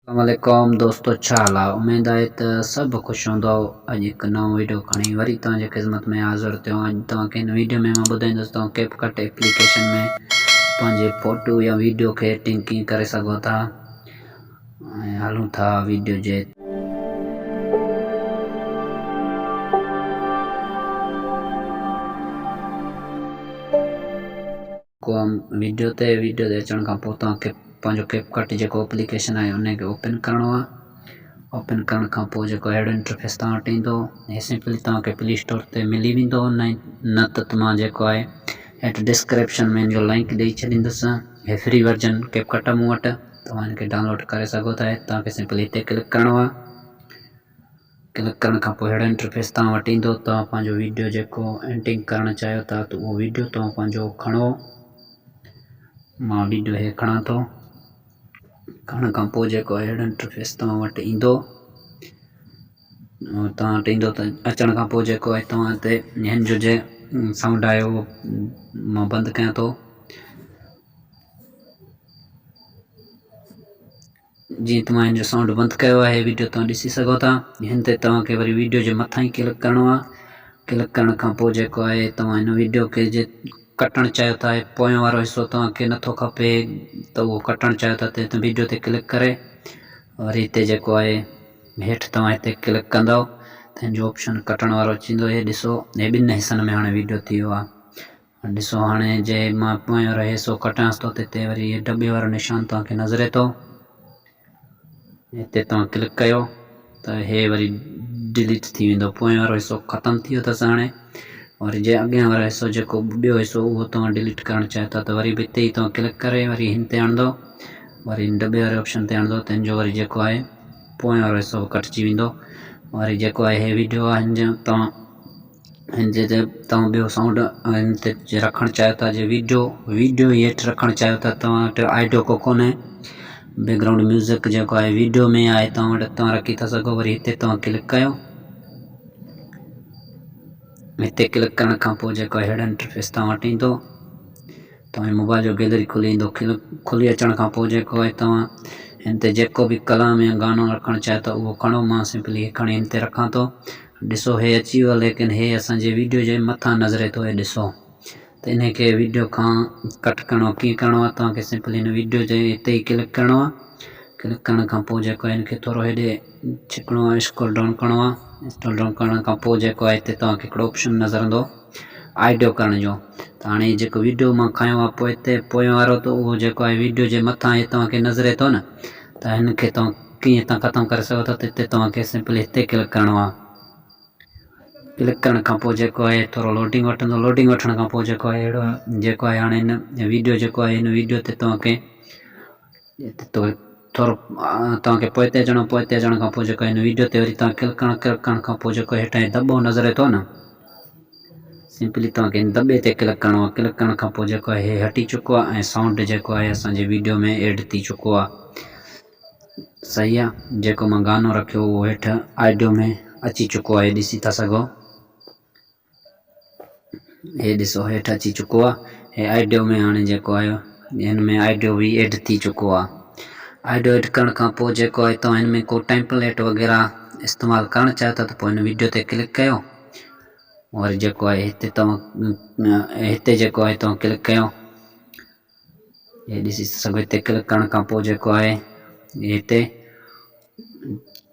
اسلام عليڪم دوستو ڇا حال آ اميد آهي ته سڀ خوش هوندؤ اڄ هڪ نئون ويڊيو کڻي وري توهان جي خدمت ۾ حاضر ٿيو آهيان اڄ توهان کي هن ويڊيو ۾ مان ٻڌائيندس توهان ڪيپ ڪٽ ايپليڪيشن ۾ پنهنجي فوٽو يا ويڊيو کي ايڊٽنگ ڪيئن ڪري سگهو ٿا ۽ هلون ٿا ويڊيو جي ڪوم ويڊيو تي ويڊيو تي اچڻ کان پوء توهان کي پنهنجو ڪيپ ڪٽ جيڪو اپليڪيشن آهي ان کي اوپن ڪرڻو آهي اوپن ڪرڻ کان پوء جيڪو اهڙو انٽرفيس توهان وٽ ايندو هي سمپلي توهان کي پلي اسٽور تي ملي ويندو نه ته مان جيڪو آهي هيٺ ڊسڪرپشن ۾ ان جو لنڪ ڏئي ڇڏيندس هي فري ورجن ڪيپ ڪٽ آهي مون وٽ توهان ان کي ڊائونلوڊ ڪري سگهو ٿا توهان کي سمپلي هتي ڪلڪ ڪرڻو آهي ڪلڪ ڪرڻ کان پوء اهڙو انٽرفيس توهان وٽ ايندو توهان پنهنجو ويڊيو جيڪو ايڊٽنگ ڪرڻ چاهيو ٿا ته اهو ويڊيو توهان پنهنجو کڻو مان ويڊيو هي کڻان ٿو کڻڻ کان پوء جيڪو اهڙو انٽرفيس توهان وٽ ايندو توهان وٽ ايندو ته اچڻ کان پوء جيڪو آهي توهان هتي هن جو جي سائونڊ آهي اهو مان بند ڪيان ٿو جيئن توهان هن جو سائونڊ بند ڪيو آهي ويڊيو توهان ڏسي سگهو ٿا هن تي توهان کي وري ويڊيو جي مٿان ئي ڪلڪ ڪرڻو آهي ڪلڪ ڪرڻ کان پوء جيڪو آهي توهان هن ويڊيو کي جي ڪٽڻ چاهيو ٿا هي پويان وارو حصو توهان کي نٿو کپي ته اهو ڪٽڻ چاهيو ٿا ته هت ويڊيو تي ڪلڪ ڪري وري هتي جيڪو آهي هيٺ توهان هتي ڪلڪ ڪندو ته هن جو آپشن ڪٽڻ وارو اچي ويندو هي ڏسو هي ٻن حصن ۾ هاڻي ويڊيو ٿي ويو آهي ڏسو هاڻي جي مان پويان رهي سو ڪٽيانس ٿو ته هتي وري هي ڊٻي وارو نشان توهان کي نظري ٿو هتي توهان ڪلڪ ڪيو ته هي وري ڊليٽ ٿي ويندو پويان وارو حصو ختم ٿي ويو اٿس هاڻي وري جي اڳيان وارو حصو جيڪو ٻيو حصو اهو توهان ڊليٽ ڪرڻ چاهيو ٿا ته وري به هتي ئي توهان ڪلڪ ڪري وري هن تي هڻندو وري هن ڊٻي واري آپشن تي هڻندو تنهن جو وري جيڪو آهي پويان وارو حصو به ڪٽجي ويندو وري جيڪو آهي هي ويڊيو آهن جا توهان ھن جي تي توھان ٻيو سائونڊ ھن تي جي رکڻ چاھيو ٿا جي ويڊيو ويڊيو جي ھيٺ رکڻ چاھيو ٿا توھان وٽ آئڊيو ڪو ڪونھي بيڪ گرائونڊ ميوزڪ جيڪو آھي ويڊيو ۾ آھي توھان وٽ توھان رکي ٿا سگھو وري ھتي توھان ڪلڪ ڪيو ھتي ڪلڪ ڪرڻ کان پوء جيڪو ھيڊ انٽرفيس توھان وٽ ايندو توهان موبائل جو گيلري کلي ايندو کلي اچڻ کان پوء جيڪو آهي توهان هن تي جيڪو به ڪلام يا گانو رکڻ چاهيو ٿا اهو کڻو مان سمپلي هي کڻي هن تي رکان ٿو ڏسو هي اچي ويو ليڪن هي اسان جي ويڊيو جي مٿان نظري ٿو هي ڏسو ته ان کي ويڊيو کان ڪٽ ڪرڻو ڪيئن ڪرڻو آهي توهان کي سمپلي هن ويڊيو جي هتي ئي ڪلڪ ڪرڻو آهي ڪلڪ ڪرڻ کان پوء جيڪو هن کي ٿورو هيڏي ڇڪڻو آهي اسڪرول ڊائون ڪرڻو آهي اسڪرول ڊائون ڪرڻ کان پوء جيڪو آهي هتي توهان کي هڪڙو آپشن نظر ايندو آئيڊيو ڪرڻ جو ته هاڻي هي جيڪو ويڊيو مان کنيو آهي پوء هتي پوئين وارو ته اهو جيڪو آهي ويڊيو جي مٿان هي توهان کي نظري ٿو نه ته هن کي توهان ڪيئن هتان ختم ڪري سگهو ٿا ته هتي توهان کي سمپلي هتي ڪلڪ ڪرڻو آهي ڪلڪ ڪرڻ کان پوء جيڪو آهي ٿورو لوڊنگ وٺندو لوڊنگ وٺڻ کان پوء جيڪو آهي اهڙو جيڪو آهي هاڻي هن ويڊيو جيڪو آهي هن ويڊيو تي توهان کي طور توهان کي پوئتي اچڻو آهي پوئتي اچڻ کان پوء جيڪو هن ويڊيو تي وري توهان ڪلڪڻ ڪلڪ ڪرڻ کان پوء جيڪو هيٺان هي دٻو نظر اچي ٿو نه سمپلي توهان کي هن دٻي تي ڪلڪ ڪرڻو آهي ڪلڪ ڪرڻ کان پوء جيڪو هي هٽي چڪو آهي ۽ سائونڊ جيڪو آهي اسانجي ويڊيو ۾ ايڊ ٿي چڪو آهي صحيح آهي جيڪو مان گانو رکيو هو هيٺ آڊيو ۾ اچي چڪو آهي ڏسي ٿا سگهو هي ڏسو هيٺ اچي چڪو آ هي آئيڊيو ۾ هاڻي جيڪو آهي هن ۾ آئيڊيو بي ايڊ ٿي چڪو آ آئيڊيو ايڊ ڪرڻ کان پوء جيڪو آهي توهان هن ۾ ڪو ٽيمپليٽ وغيره استعمال ڪرڻ چاهيو ٿا ته پوء هن ويڊيو تي ڪلڪ ڪيو وري جيڪو آهي هتي توهان هتي جيڪو آهي توهان ڪلڪ ڪيو هي ڏسي سگهو هتي ڪلڪ ڪرڻ کان پوء جيڪو آهي هتي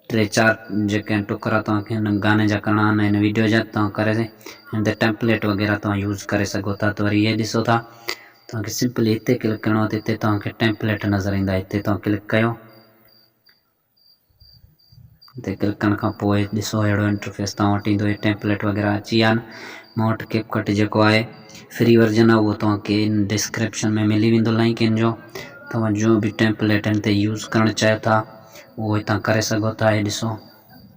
ٽي چار جيڪي ٽڪرا توهان کي هن گاني جا ڪرڻا آهن هن ويڊيو جا توهان ڪري هن تي ٽيمپليٽ وغيره توهان يوز ڪري سگهو ٿا ته وري هي ڏسو ٿا توهان کي سمپلي هتي ڪلڪ ڪرڻو ته هتي توهان کي ٽيمپليٽ نظر ايندا هتي توهان ڪلڪ ڪيو تي ڪلڪ ڪرڻ کان پوء ڏسو اهڙو انٽرفيس توهان وٽ ايندو هي ٽيمپليٽ وغيره اچي ويا آهن مون وٽ ڪيپ ڪٽ جيڪو آهي فري ورجن آهي اهو توهان کي ان ڊسڪرپشن ۾ ملي ويندو لائنڪ ان جو توهان جو به ٽيمپليٽن تي يوز ڪرڻ چاهيو ٿا اهو هتان ڪري سگهو ٿا هي ڏسو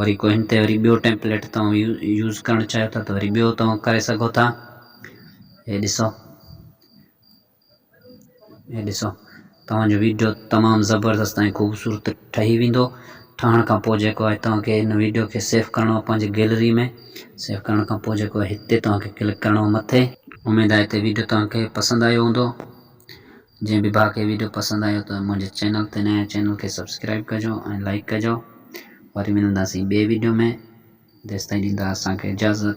وري ڪو هن تي وري ٻيو ٽيمپليٽ توهان يوز ڪرڻ چاهيو ٿا ته وري ٻيو توهان ڪري سگهو ٿا هي ڏسو هي ڏسو توهان جو ويڊيو تمام زبردست ۽ خوبصورت ٺهي ويندو ٺهڻ کان پوء جيڪو آهي توهان کي هن ويڊيو کي سيف ڪرڻو آهي پنهنجي گيلري ۾ سيف ڪرڻ کان پوء جيڪو هتي توهان کي ڪلڪ ڪرڻو آهي مٿي اميد آهي ته ويڊيو توهان کي پسند آيو هوندو جنهن به ڀاء کي ويڊيو پسند آيو ته منهنجي چينل تي نئين آهي چينل کي سبسڪرائب ڪجو ۽ لائڪ ڪجو وري ملنداسين ٻئي ويڊيو ۾ تيستائين ڏيندا اسان کي اجازت.